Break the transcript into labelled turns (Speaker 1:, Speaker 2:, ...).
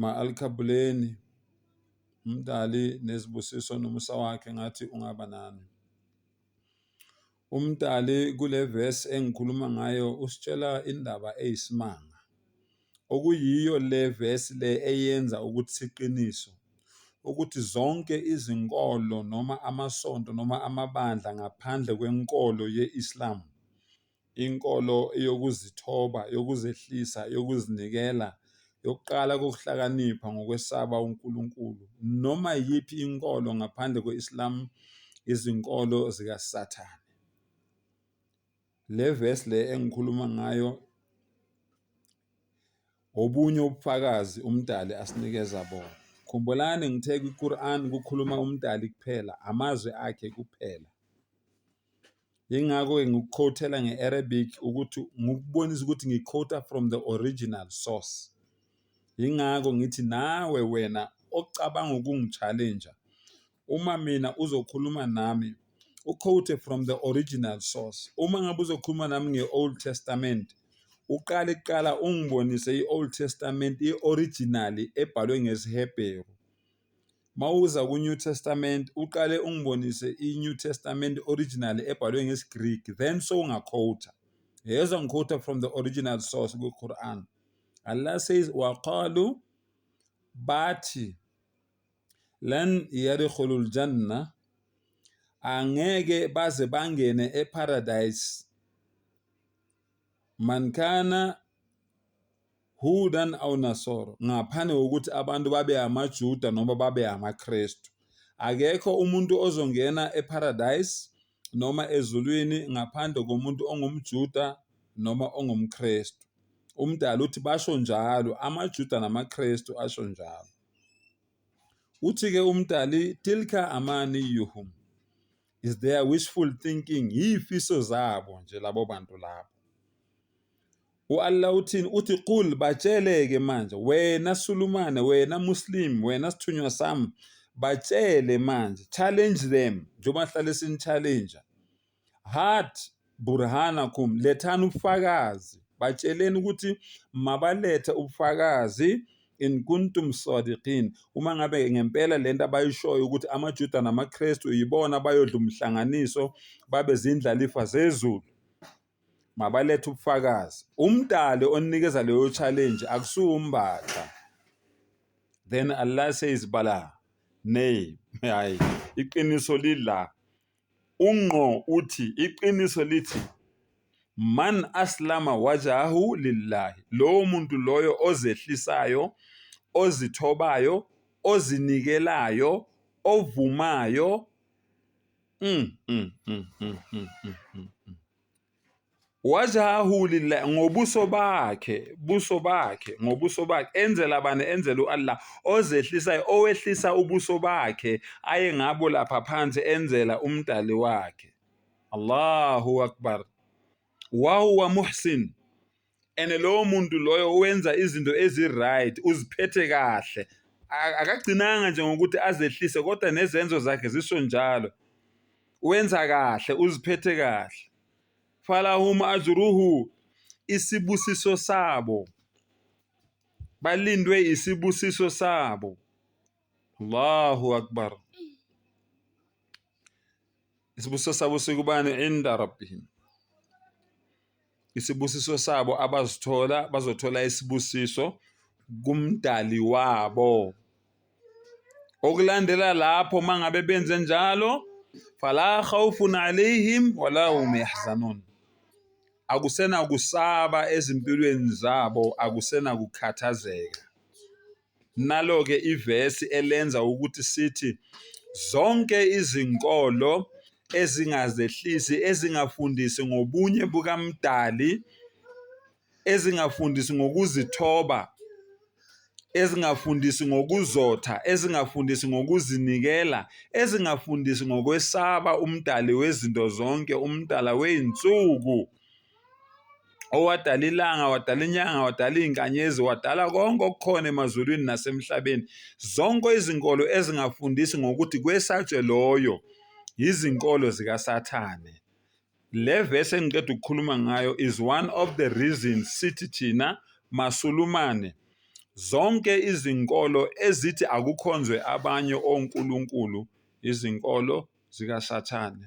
Speaker 1: Ma-Alkhabuleni, uMdali nezibusiso nomusa wakhe ngathi ungaba nami. UMdali kule vesi engikhuluma ngayo usitshela indaba eyisimanga, okuyiyo le vesi le eyenza ukuthi siqiniso ukuthi zonke izinkolo noma amasonto noma amabandla ngaphandle kwenkolo ye-Islam Inkolo eyokuzithoba, yokuzehlisa, yokuzinikela, yokuqala kokuhlakanipha ngokwesaba uNkulunkulu. Noma iyiphi inkolo ngaphandle kwe-Islam izinkolo zikaSathane. Le verse le engikhuluma ngayo obunye ubufakazi umdali asinikeza bona khumbulani ngithe kwiQuran kukhuluma umdali kuphela amazwi akhe kuphela Yingakho-ke ngikukhowuthela nge-Arabic ukuthi ngikubonise ukuthi ngikhowutha from the original source. Yingakho ngithi nawe wena ocabanga ukungi-challenger uma mina uzokhuluma nami ukhowuthe from the original source. Uma ngabe uzokhuluma nami nge-Old Testament uqale kuqala ungibonise i-Old Testament i-originally ebhalwe ngesiHebheru Mawuza ku New Testament uqale ungibonise i New Testament original ebhalwe ngesi Greek then sowunga quota. Yezwa ngi quota from the original source ku Quran. Allah says waqalu bathi lan yadkhulul janna angeke baze bangene e paradise man kana Hudan aw Nasoro, ngaphandle kokuthi abantu babe amaJuda noma babe amaKristu. Akekho umuntu ozongena eParadise noma ezulwini ngaphandle komuntu ongumJuda noma ongumKristu. UMdali uthi basho njalo, amaJuda namaKristu asho njalo. Uthi-ke uMdali, Tilka amani yuhum. is their wishful thinking yifiso zabo nje labo bantu labo uAllah uthini uthi qul batsheleke manje wena sulumane wena muslim wena sithunywa sami batshele manje challenge them njengoba sihlale sini challenge hard burhanakum lethani ubufakazi batsheleni ukuthi mabalethe ubufakazi in kuntum sadiqin uma ngabe ngempela lento abayishoyo ukuthi amaJuda namaKristu yibona bayodla umhlanganiso babe zindlalifa zezulu mabalethe ubufakazi umdali onikeza leyo challenge akusuwumbatha then Allah says bala nay hayi iqiniso lila UNgqo uthi iqiniso lithi, Man aslama wajhahu lillah, lowo muntu loyo ozehlisayo, ozithobayo, ozinikelayo, ovumayo, wajahu lillah ngobuso bakhe buso bakhe ngobuso bakhe enzela bani enzela uAllah ozehlisayo owehlisa ubuso bakhe aye ngabo lapha phansi enzela umdali wakhe Allahu akbar wa huwa muhsin and lowo muntu loyo wenza izinto ezi-right uziphethe kahle akagcinanga nje ngokuthi azehlise kodwa nezenzo zakhe zisho njalo wenza kahle uziphethe kahle falahum ajruhu isibusiso sabo balindwe isibusiso sabo Allahu akbar isibusiso sabo sikubani inda rabbihim isibusiso sabo abazithola bazothola isibusiso kumdali wabo okulandela lapho mangabe benze njalo fala khawfun alayhim wala hum yahzanun akusena kusaba ezimpilweni zabo akusena kukhathazeka Nalo-ke ivesi elenza ukuthi sithi zonke izinkolo ezingazehlisi, ezingafundisi ngobunye bukaMdali, ezingafundisi ngokuzithoba, ezingafundisi ngokuzotha, ezingafundisi ngokuzinikela, ezingafundisi ngokwesaba uMdali wezinto zonke, uMdala wey'nsuku. owadala ilanga wadala inyanga wadala iy'nkanyezi wadala konke okukhona emazulwini nasemhlabeni zonke izinkolo ezingafundisi ngokuthi kwesatshwe loyo yizinkolo zikasathane le vesi engiqeda ukukhuluma ngayo is one of the reasons sithi thina masulumane zonke izinkolo ezithi akukhonzwe abanye onkulunkulu izinkolo zikasathane